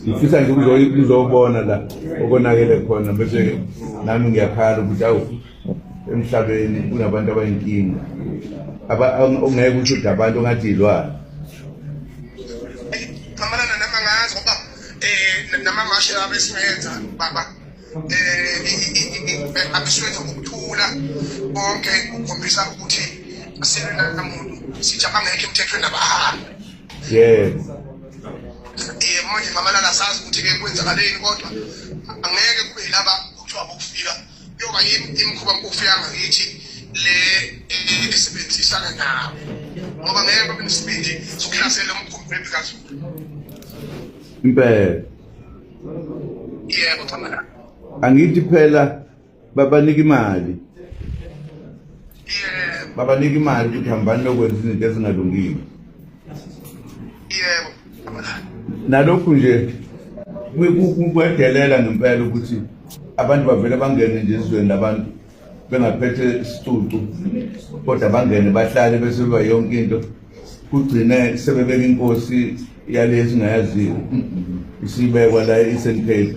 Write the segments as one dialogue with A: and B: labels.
A: ngifisa nje ukuzobona la okonakele khona bese nami ngiyakhala ukuthi awu emhlabeni kunabantu abayinkinga ongeke ukuthi ude abantu ongathi yilwana
B: xamalana nama ngazi ngoba um namamashe abesingayenza baba um abesingenza ngokuthula konke kukhombisa ukuthi asilwe namuntu sithi abangekho emthethweni abahambe yebo yebo manje mamalala sazi ukuthi ke kwenzakaleni kodwa angeke kube yilaba kuthiwa bokufika kuyoba yini imikhuba mkufika ngakithi le esebenzisana nabo ngoba ngeke babe nesibindi sokuhlasela umkhumbi webikazulu
A: impela
B: yebo chamalala angithi
A: phela babanika imali yebo babanika imali ukuthi hambani lokwenza izinto ezingalungile
B: yebo nalokhu nje
A: kwedelela ngempela ukuthi abantu bavele bangene nje ezweni labantu bengaphethe isicucu kodwa bangene bahlale bese beba yonke into kugcine sebebeka inkosi yale esingayaziyo isibekwa la i-eastern cape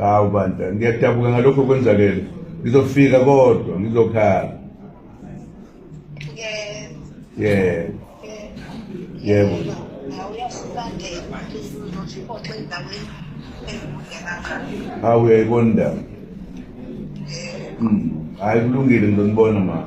A: hawu bandla ngiyadabuka ngalokho kwenzakele ngizofika kodwa ngizokhala yebo yebo hawu uyayibona indaba hmm. hayi kulungile ngizonibona mama